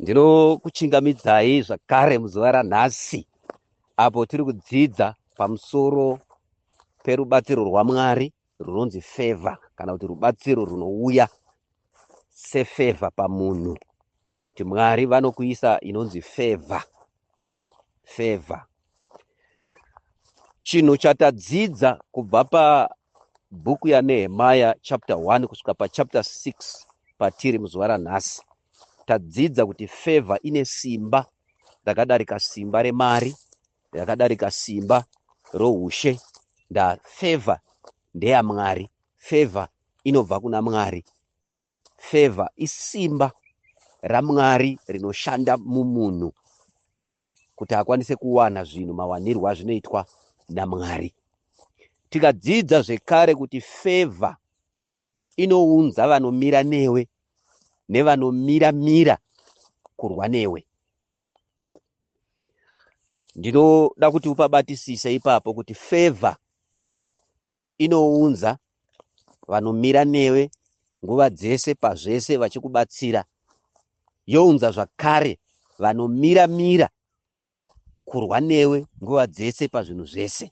Ndinokuchingamidzai zvakare muzuva ranhasi apo tiri kudzidza pamusoro perubatsiro rwaMwari runonzi feva kana kuti rubatsiro runouya sefeva pamunhu kuti Mwari vanokuisa inonzi feva favor chinhu chatadzidza kubva pabhuku yanehemaya chapter 1 kusvika pachapter 6 patiri muzuva ranhasi tadzidza kuti favor ine simba rakadarika simba remari rakadarika simba roushe ndafavor ndeyamwari favor inobva kuna mwari Favour isimba raMwari rinoshanda mumunhu kuti akwanise kuwana zvinhu mawanirwo azvinoitwa naMwari. Tikadzidza zvekare kuti favour inounza vanomira newe nevanomira mira kurwa newe. Ndinoda kuti upabatisise ipapo kuti favour Inounza vanomira newe nguva dzese pazvese vachikubatsira, younza zvakare vanomira mira kurwa newe nguva dzese pazvinhu zvese.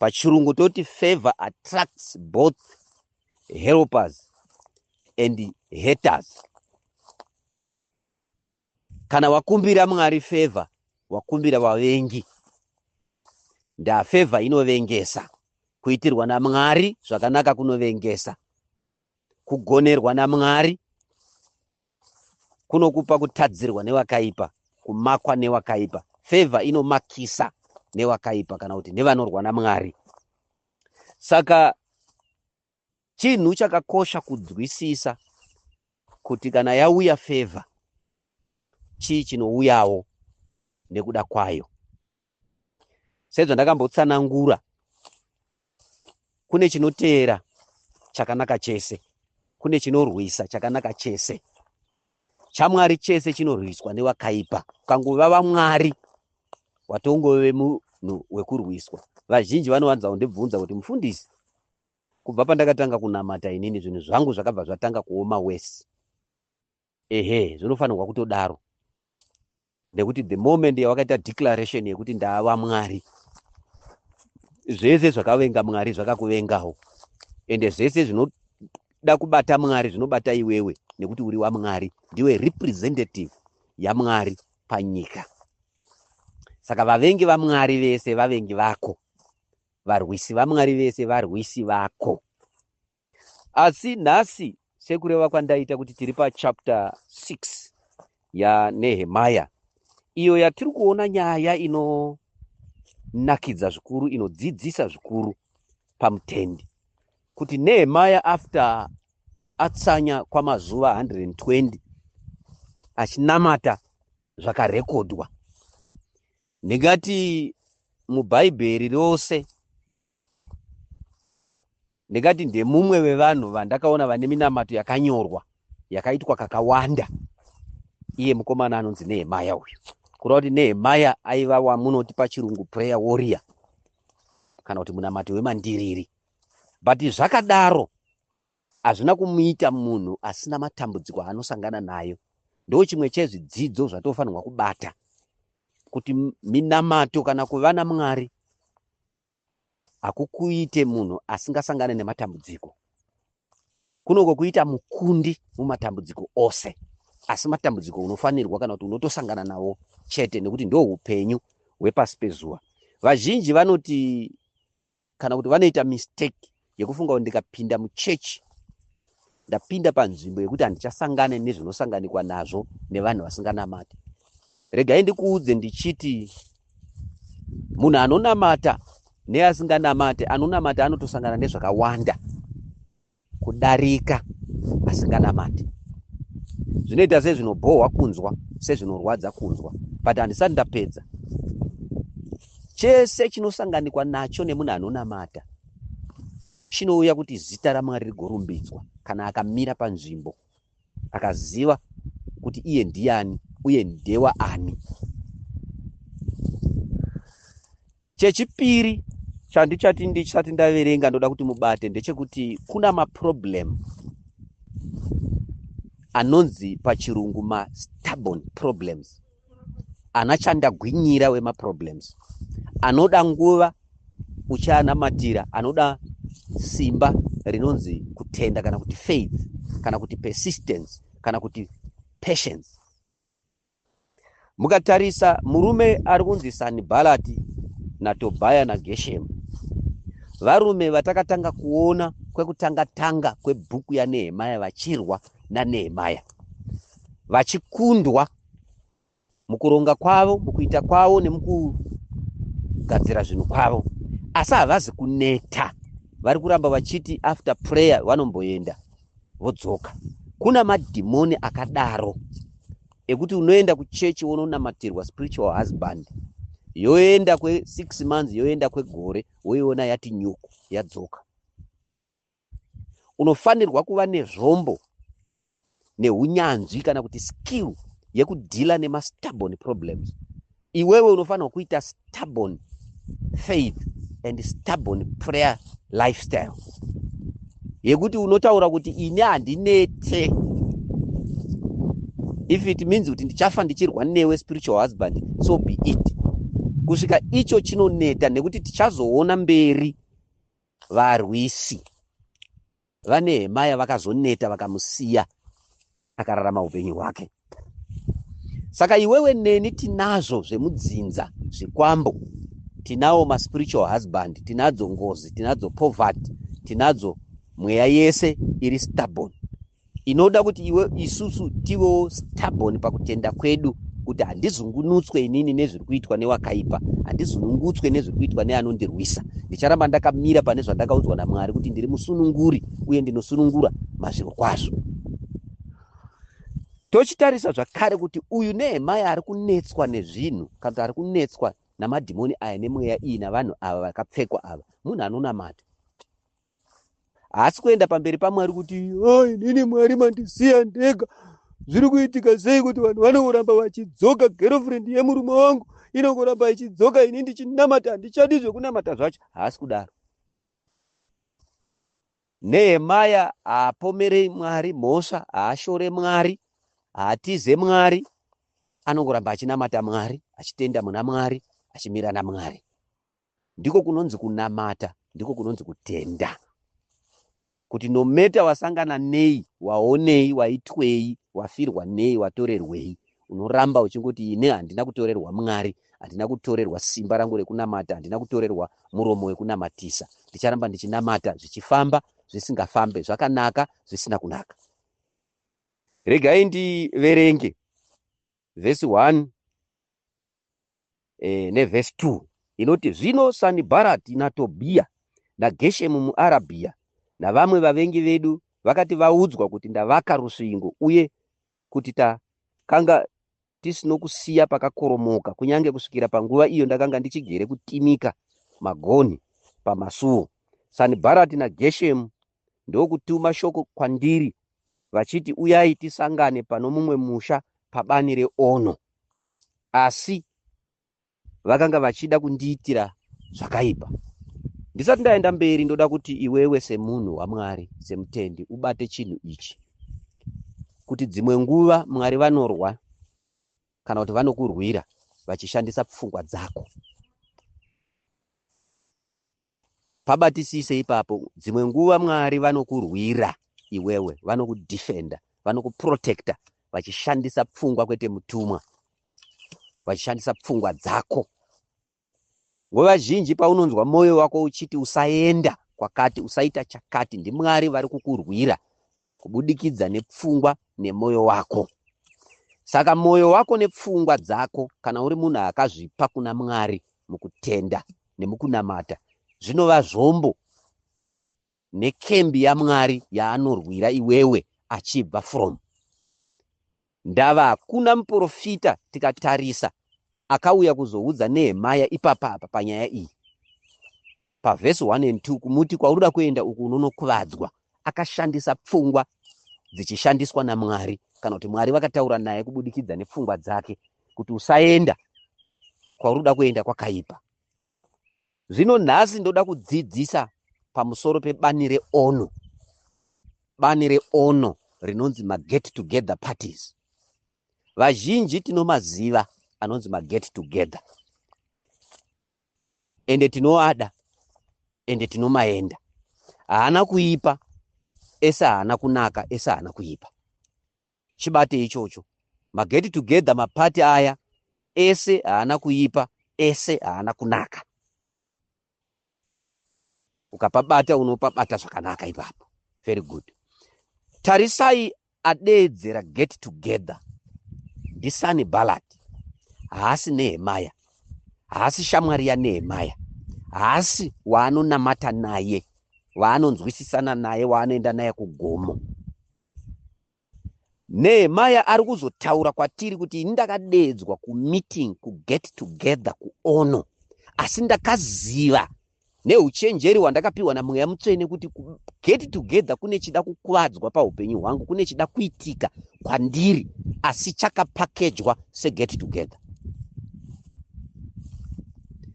Pachirungu toti favor attracts both helpers and haters. Kana wakumbira Mwari favor, wakumbira vavengi. Ndaa favor inovengesa. Kuitirwa naMwari zvakanaka kunovengesa. Kugonerwa naMwari kunokupa kutadzirwa newakaipa, kumakwa newakaipa. Favor inomakisa newakaipa kana kuti nevanorwa naMwari. Saka Chinhu chakakosha kunzwisisa kuti kana yauya favor chii chinouyawo nekuda kwayo. Sezvandakambotsanangura kune chinoteera chakanaka chese, kune chinorwisa chakanaka chese. ChaMwari chese chinorwiswa nevakaipa. Ukangova vaMwari watongove munhu wekurwiswa. Vazhinji vanowanza kundibvunza kuti mufundisi, Kubva pandakatanga kunamata inini zvinhu zvangu zvakabva zvatanga kuoma worse. Ehe, zvinofanirwa kutodaro. Nekuti the moment yawakaita declaration yekuti ndava Mwari, zvese zvakavenga Mwari zvakakuvengawo. Ende zvese zvinoda kubata Mwari zvinobata iwewe nekuti uri waMwari, ndiwe representative yaMwari panyika. Saka vavengi vaMwari vese vavengi vako. varwisi vaMwari vese varwisi vako. Asi nhasi sekureva kwandaita kuti tiri pachapter 6 yaNehemaya iyo yatiri kuona nyaya inonakidza zvikuru inodzidzisa zvikuru pamutendi kuti Nehemaya after atsanya kwamazuva 120 achinamata zvakarekodwa Ndingati mubhaibheri rose ndingati ndemumwe wevanhu vandakaona vane minamato yakanyorwa yakaitwa kakawanda iye mukomana anonzi nehemaya uyu kureva kuti nehemaya aiva wamunoti pachirungu prayer warrior kana kuti munamato wemandiriri but zvakadaro Hazvina kumuita munhu asina matambudziko aanosangana nayo. Ndochimwe chezvidzidzo zvatinofanirwa kubata kuti minamato kana kuva naMwari hakukuite munhu asingasangane nematambudziko. Kunoko kuita mukundi mumatambudziko ose, asi matambudziko unofanirwa kana kuti unotosangana nawo chete nekuti ndoupenyu hwepasi pezuva. Vazhinji vanoti kana kuti vanoita mistake yekufunga kuti ndikapinda muchechi ndapinda panzvimbo yekuti handichasangane nezvinosanganikwa nazvo nevanhu vasinganamati regai ndikuudze ndichiti munhu anonamata neasinganamate anonamata anotosangana nezvakawanda kudarika asinganamati zvinoita sezvinobhohwa kunzwa sezvinorwadza kunzwa but handisati ndapedza chese chinosanganikwa nacho nemunhu anonamata chinouya kuti zita ramwari rigorumbidzwa kana akamira panzvimbo akaziva kuti iye ndiani uye ndewa ani Chechipiri chandichati ndichisati ndaverenga ndoda kuti mubate ndechekuti kuna maproblem anonzi pachirungu mastubborn problems ana chandagwinyira wemaproblems anoda nguva uchianamatira anoda simba rinonzi kutenda kana kuti faith kana kuti persistence kana kuti patience Mukatarisa murume ari kunzi Sanibhalati naTobhaya naGeshemu, varume vatakatanga kuona kwekutanga tanga kwebhuku yaNehemaya vachirwa naNehemaya, vachikundwa mukuronga kwavo, mukuita kwavo nemukugadzira zvinhu kwavo, asi havazi kuneta. Vari kuramba vachiti after prayer vanomboenda. vodzoka kuna madhimoni akadaro ekuti unoenda kuchechi wononamatirwa spiritual husband yoenda kwesix months yoenda kwegore woiona yati nyuku yadzoka unofanirwa kuva nezvombo neunyanzvi kana kuti skill yekudhila nemastubborn problems Iwewe unofanirwa kuita stubborn faith and stubborn prayer lifestyle yekuti unotaura kuti ini handinete if it means kuti ndichafa ndichirwa newe spiritual husband so be it kusvika icho chinoneta nekuti tichazoona mberi varwisi VaNehemaya vakazoneta vakamusiya akararama upenyu hwake. Saka iwewe neni tinazvo zvemudzinza zvikwambo, tinawo maspiritual husband, tinadzo ngozi, tinadzo poverty, tinadzo mweya yese iri stubborn inoda kuti iwe isusu tivewo stubborn pakutenda kwedu kuti handizungunutswe inini nezve kuitwa newakaipa handizunungutswe nezviri kuitwa neanondirwisa ndicharamba ndakamira pane zvandakaudzwa namwari kuti ndiri musununguri uye ndinosunungura mazviro kwazvo tochitarisa zvakare kuti uyu nehemaya ari kunetswa nezvinhu kana kuti ari kunetswa namadhimoni aya nemweya iyi navanhu ava vakapfekwa ava munhu anonamata haasi kuenda pamberi pamwari kuti oh, inini mwari mandisiya ndega zviri kuitika sei kuti vanhu vanongoramba vachidzoka girlfriend yemurume wangu inongoramba ichidzoka ini ndichinamata handichadi zvekunamata zvacho haasi kudaro nehemaya haapomerei mwari mhosva haashore mwari haatize mwari anongoramba achinamata mwari achitenda muna mwari achimira namwari ndiko kunonzi kunamata ndiko kunonzi kutenda kuti nometa wasangana nei waonei waitwei wafirwa nei watorerwei unoramba uchingoti ine handina kutorerwa mwari handina kutorerwa simba rangu rekunamata handina kutorerwa muromo wekunamatisa ndicharamba ndichinamata zvichifamba zvisingafambe zvakanaka zvisina kunaka regai ndiverenge vhesi 1 eh, nevhesi 2 inoti zvino sanibharati natobhiya nageshemu muarabhiya navamwe vavengi vedu vakati vaudzwa kuti ndavaka rusvingo uye kuti takanga tisinokusiya pakakoromoka kunyange kusvikira panguva iyo ndakanga ndichigere kutimika magonhi pamasuo sanibharati nageshemu ndokutuma shoko kwandiri vachiti uyai tisangane pano mumwe musha pabani reono asi vakanga vachida kundiitira zvakaipa. Ndisati ndaenda mberi, ndoda kuti iwewe semunhu waMwari, semutendi, ubate chinhu ichi, kuti dzimwe nguva Mwari vanorwa kana kuti vanokurwira vachishandisa pfungwa dzako. Pabatisise ipapo. Dzimwe nguva Mwari vanokurwira iwewe, vanokudefenda, vanokuprotecta vachishandisa pfungwa kwete mutumwa, vachishandisa pfungwa dzako. Nguva zhinji paunonzwa mwoyo wako uchiti usaenda kwakati, usaita chakati, ndiMwari vari kukurwira kubudikidza nepfungwa nemwoyo wako. Saka mwoyo wako nepfungwa dzako, kana uri munhu akazvipa kuna Mwari mukutenda nemukunamata, zvinova zvombo nekembi yaMwari yaanorwira iwewe achibva from. Ndava hakuna muporofita tikatarisa akauya kuzoudza Nehemaya ipapa apa panyaya iyi. Pavhesi 1 and 2 kumuti kwaunoda kuenda uku unonokuvadzwa. Akashandisa pfungwa dzichishandiswa naMwari kana kuti Mwari vakataura naye kubudikidza nepfungwa dzake kuti usaenda kwaunoda kuenda kwakaipa. Zvino nhasi ndoda kudzidzisa pamusoro pebani reono, bani reono rinonzi maget together parties. Vazhinji tinomaziva anonzi maget together ende tinoada ende tinomaenda. Haana kuipa ese haana kunaka ese haana kuipa. chibate ichocho maget together mapati aya ese haana kuipa ese haana kunaka ukapabata unopabata zvakanaka ipapo very good tarisai adeedzera get together ndisani balad haasi nehemaya haasi shamwari yanehemaya haasi waanonamata naye waanonzwisisana naye waanoenda naye kugomo Nehemaya ari kuzotaura kwatiri kuti ini ndakadeedzwa kumeeting kuget together kuono asi ndakaziva neuchenjeri hwandakapiwa namweya mutsvene kuti get together kune chida kukuvadzwa paupenyu hwangu kune chida kuitika kwandiri asi chakapakejwa seget together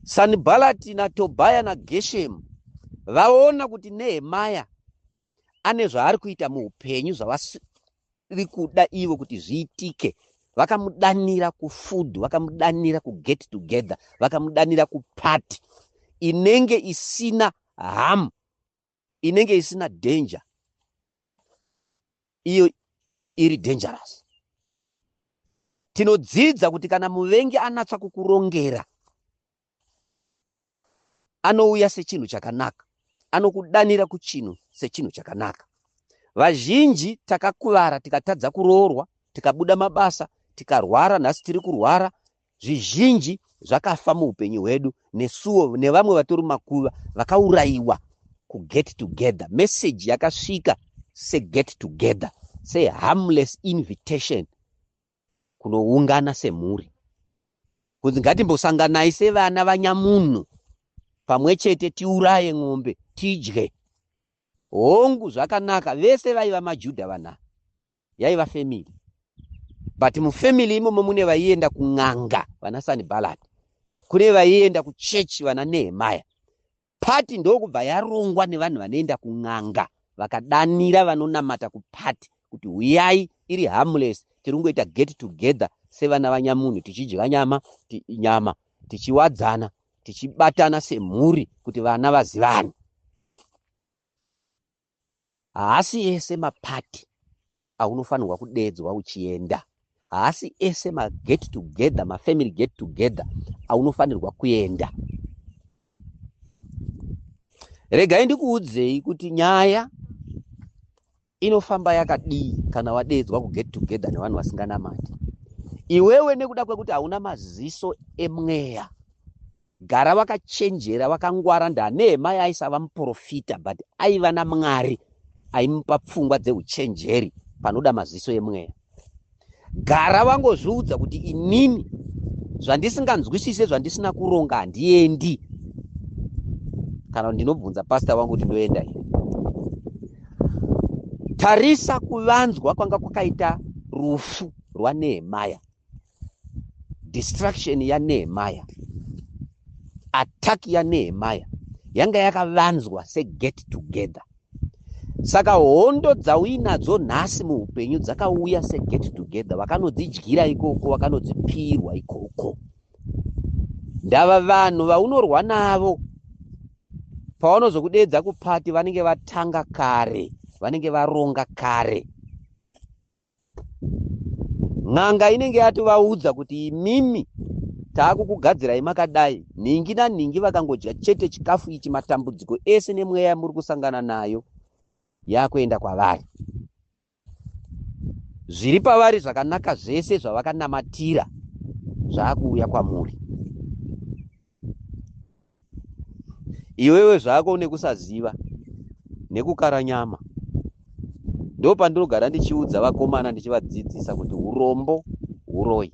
sanibhalati natobhaya nageshemu vaona kuti nehemaya ane zvaari kuita muupenyu zvavasiri kuda ivo kuti zviitike vakamudanira kufood vakamudanira kuget together vakamudanira kuparty inenge isina harm inenge isina danger iyo iri dangerous tinodzidza kuti kana muvengi anatswa kukurongera anouya sechinhu chakanaka, anokudanira kuchinhu sechinhu chakanaka. Vazhinji takakuvara tikatadza kuroorwa, tikabuda mabasa, tikarwara, nhasi tiri kurwara, zvizhinji zvakafa muupenyu hwedu nesuwo nevamwe vatori makuva vakaurayiwa kuget together. Message yakasvika seget together, seharmless invitation kunoungana semhuri kunzi ngatimbosanganai sevana vanyamunhu pamwe chete tiuraye n'ombe tidye hongu zvakanaka vese vaiva majudha vana yaiva family but mufamily imomo mune vaienda kun'anga vana sanibalati kune vaienda kuchechi vana nehemaya Pati ndokubva yarongwa nevanhu vanoenda kun'anga vakadanira vanonamata kupati kuti huyai iri harmless tiri kungoita get together sevana vanyamunhu tichidya nyama ti, nyama tichiwadzana tichibatana semhuri kuti vana vazivane Haasi ese mapati aunofanirwa kudeedzwa uchienda. Haasi ese maget together, mafamily get together aunofanirwa kuenda. Regai ndikuudzei kuti nyaya inofamba yakadii kana wadeedzwa kuget together nevanhu vasinganamati. Iwewe nekuda kwekuti hauna maziso emweya Gara wakachenjera wakangwara ndanehema yaaisava muporofita but aiva namwari aimupa pfungwa dzeuchenjeri panoda maziso emweya gara wangozviudza kuti inini zvandisinganzwisise zvandisina kuronga handiendi kana ndinobvunza pasta wangu kuti ndoenda here tarisa kuvanzwa kwanga kwakaita rufu rwanehemaya destruction yanehemaya attack yanehemaya yanga yakavanzwa seget together saka hondo dzauinadzo nhasi muupenyu dzakauya seget together vakanodzidyira ikoko vakanodzipirwa ikoko ndava vanhu vaunorwa navo pavanozokudeedza kupati vanenge vatanga kare vanenge varonga kare n'anga inenge yatovaudza kuti imimi taakukugadzirai makadai nhingi nanhingi vakangodya chete chikafu ichi matambudziko ese nemweya yamuri kusangana nayo yakuenda kwavari zviri pavari zvakanaka zvese zvavakanamatira zvaakuuya kwamuri iwewe zvako une kusaziva nekukara nyama ndo pandinogara ndichiudza vakomana ndichivadzidzisa kuti urombo uroyi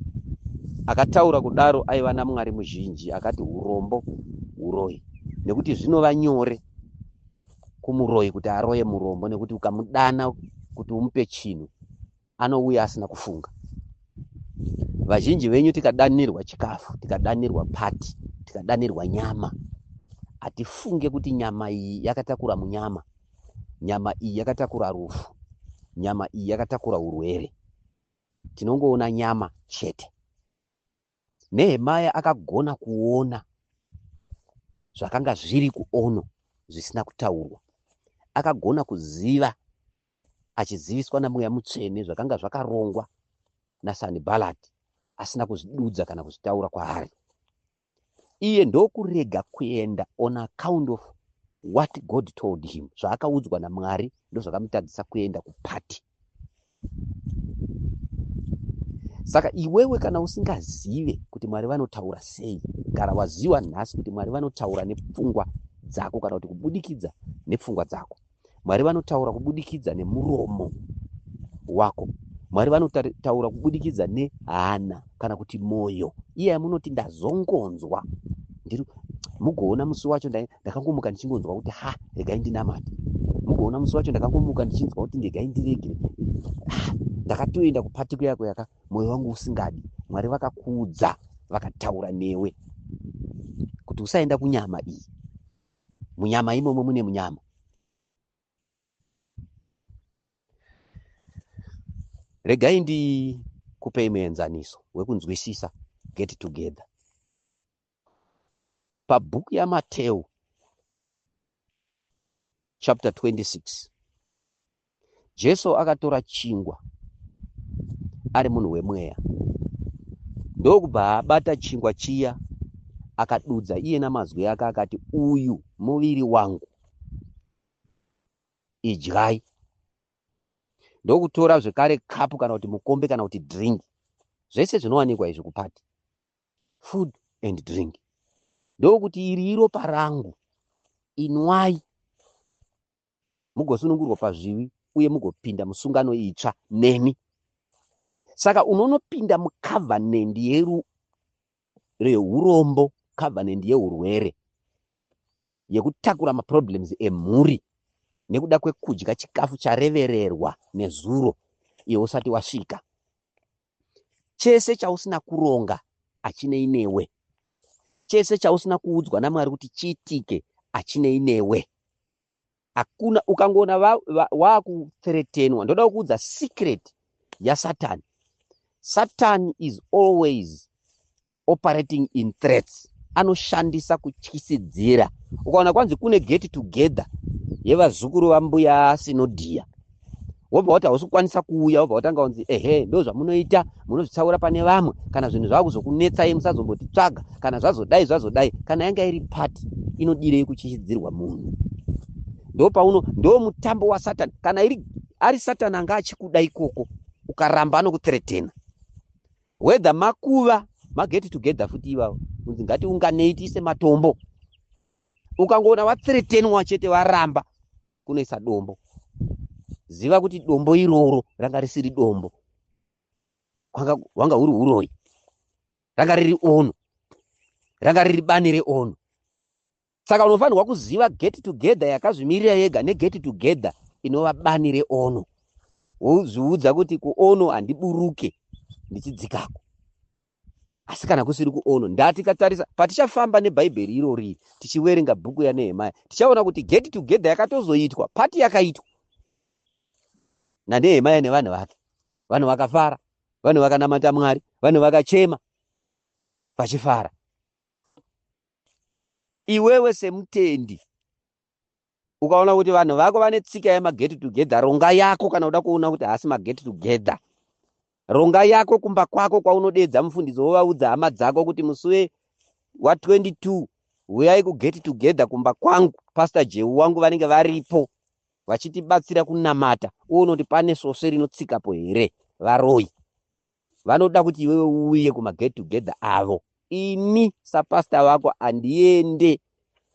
akataura kudaro aiva namwari muzhinji akati urombo uroyi nekuti zvinova nyore kumuroyi kuti aroye murombo nekuti ukamudana kuti umupe chinhu anouya asina kufunga vazhinji venyu tikadanirwa chikafu tikadanirwa pati tikadanirwa nyama hatifunge kuti nyama iyi yakatakura munyama nyama iyi yakatakura rufu nyama iyi yakatakura urwere tinongoona nyama chete Nehemaya akagona kuona zvakanga zviri kuono zvisina kutaurwa. Akagona kuziva achiziviswa naMweya Mutsvene zvakanga zvakarongwa naSanibhalati asina kuzvidudza kana kuzvitaura kwaari. Iye ndokurega kuenda on account of what God told him. Zvaakaudzwa naMwari ndozvakamutadzisa kuenda kupati. saka iwewe kana usingazive kuti mwari vanotaura sei gara waziva nhasi kuti mwari vanotaura nepfungwa dzako kana kuti kubudikidza nepfungwa dzako mwari vanotaura kubudikidza nemuromo wako mwari vanotaura kubudikidza nehana kana kuti moyo iya yamunoti ndazongonzwa ndiri mugoona musi wacho ndakangomuka ndichingonzwa kuti ha regai ndinamate mugoona musi wacho ndakangomuka ndichinzwa kuti ndegai ndiregere ndakatoenda kupatiko yako yaka moyo wangu usingadi mwari vakakuudza vakataura newe kuti usaenda kunyama iyi munyama imomo mune munyama regai ndikupei muenzaniso wekunzwisisa get together pabhuku yamateu chapter 26 jesu akatora chingwa ari munhu wemweya ndokubva abata chingwa chiya akadudza iye namazwi ake akati uyu muviri wangu idyai ndokutora zvekare kapu kana kuti mukombe kana kuti drink zvese zvinowanikwa izvi kupati food and drink ndokuti iri iropa rangu inwai mugosunungurwa pazvivi uye mugopinda musungano itsva nemi saka unonopinda mucovenant yeru rehurombo covenant yeurwere yekutakura maproblems emhuri nekuda kwekudya chikafu charevererwa nezuro iwe usati wasvika chese chausina kuronga achinei newe chese chausina kuudzwa namwari kuti chiitike achinei newe hakuna ukangoona wakuthretenwa ndoda kuudza secret yasatan satan is always operating in threats anoshandisa kutyisidzira ukaona kwanzi kune get together yevazukuru vambuya sinodhiya wobva wati hausi kukwanisa kuuya wobva watanga kunzi ehe ndo zvamunoita munozvitsaura pane vamwe kana zvinhu zvava kuzokunetsai musazombotitsvaga kana zvazodai zvazodai kana yanga iri pati inodirei kuchishidzirwa munhu ndo pauno ndo mutambo wasatani kana iri ari satani anga achikuda ikoko ukaramba anokutretena whether makuva mageti together futi ivavo kunzi ngatiunganei tiise matombo ukangoona vatretenwa chete varamba kunoisa dombo ziva kuti dombo iroro ranga risiri dombo hwanga huri uroyi ranga riri ono ranga riri bani reono saka unofanirwa kuziva get together yakazvimirira yega neget together inova bani reono wozviudza kuti kuono handiburuke ndichidzikako asi kana kusiri kuono ndati katarisa patichafamba nebhaibheri irori tichiverenga bhuku yanehemaya tichaona kuti get together yakatozoitwa pati yakaitwa nanehemaya nevanhu vake vanhu vakafara vanhu vakanamata mwari vanhu vakachema vachifara iwewe semutendi ukaona kuti vanhu vako vane tsika yemaget together ronga yako kana uda kuona kuti haasi maget together ronga yako kumba kwako kwaunodeedza mufundisi wovaudza hama dzako kuti musuve wa22 huyai kuget together kumba kwangu pastor jeu wangu vanenge varipo vachitibatsira kunamata uone kuti pane svosve rinotsikapo here varoyi vanoda kuti iwewe uuye kumaget together avo ini sapasta vako handiende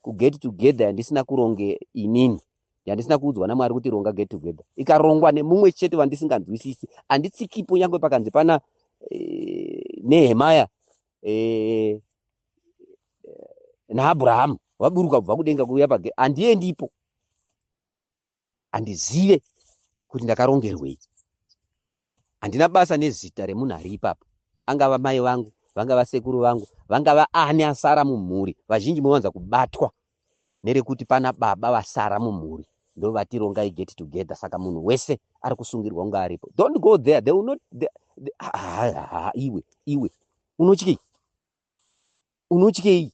kuget together yandisina kuronge inini yandisina kuudzwa namwari kuti ronga get together ikarongwa nemumwe chete vandisinganzwisisi handitsikipo nyange pakanzi pana eh, nehemaya eh, naabrahamu vaburuka kubva kudenga kuuya page handiendi ipo handizive kuti ndakarongerwei handina basa nezita remunhu ari ipapo angava mai vangu vangava sekuru vangu vangava ani asara mumhuri vazhinji mowanza kubatwa nerekuti pana baba vasara mumhuri ndo vatirongai get together saka munhu wese ari kusungirwa kunge aripo don't go there they will not they, they, ha, ha, ha, iwe iwe unotyei unotyei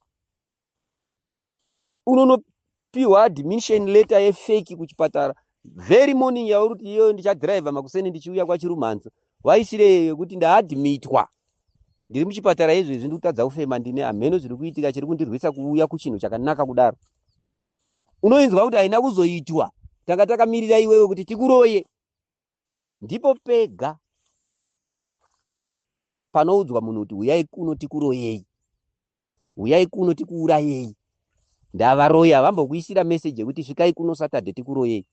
unonopihwa admission letter yefeki kuchipatara very morning yauri kuti iyoyo ndichadriver makuseni ndichiuya kwachirumhanza waisireyo yekuti ndaadmitwa ndiri muchipatara izvo izvi ndikutadza kufema ndine hameno zviri kuitika chiri kundirwisa kuuya kuchinhu chakanaka kudaro unoinzwa kuti haina kuzoitwa tanga takamirira iwewe kuti tikuroye Ndipo pega panoudzwa munhu kuti huyai kuno tikuroyei, huyai kuno tikuurayei. Ndavaroyi havambokuisira message yekuti svikai kuno Saturday tikuroyei.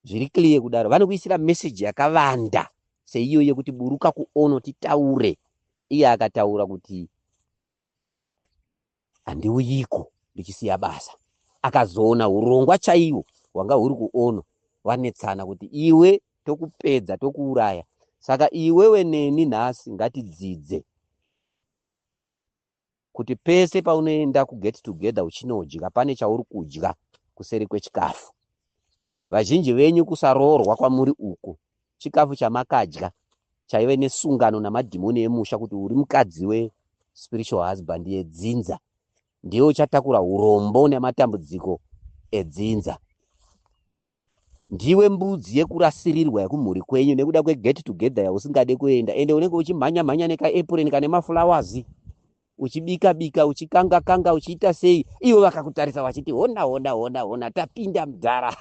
Zviri clear kudaro. Vanokuisira message yakavanda seiyo yekuti buruka kuono titaure. Iye akataura kuti handiuyiko ndichisiya basa akazoona hurongwa chaiwo hwanga huri kuono vanetsana kuti iwe tokupedza tokuuraya saka iwewe neni nhasi ngatidzidze kuti pese paunoenda kuget together uchinodya pane chauri kudya kuseri kwechikafu Vazhinji venyu kusaroorwa kwamuri uku chikafu chamakadya chaive nesungano namadhimoni emusha kuti uri mukadzi we spiritual husband yedzinza ndiwe uchatakura urombo nematambudziko edzinza. Ndiwe mbudzi yekurasirirwa yekumhuri kwenyu nekuda kweget together yausingade kuenda ende unenge uchimhanya mhanya nekaepureni kane maflowers uchibika bika uchikanga kanga uchiita sei ivo vakakutarisa vachiti hona hona hona hona tapinda mudhara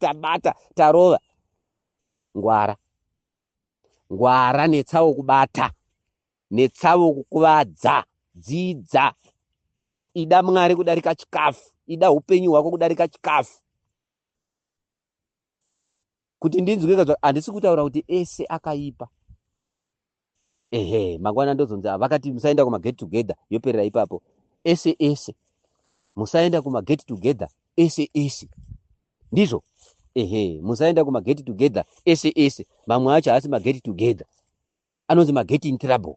tabata tarova ngwara ngwara netsavo kubata netsavo kukuvadza dzidza ida mwari kudarika chikafu ida upenyu hwako kudarika chikafu kuti ndinzwe ka handisi kutaura kuti ese akaipa ehe mangwana ndozonzi ah, vakati musaenda kuma get together yoperera ipapo ese ese musaenda kuma get together ese ese ndizvo ehe musaenda kuma get together ese ese mamwe acho haasi ma get together anonzi ma get in trouble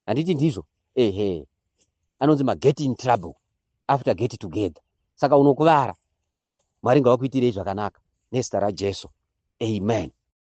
handiti ndizvo ehe anonzi ma get in trouble after get together saka unokuvara mwari ngavakuitirei zvakanaka nezita rajesu amen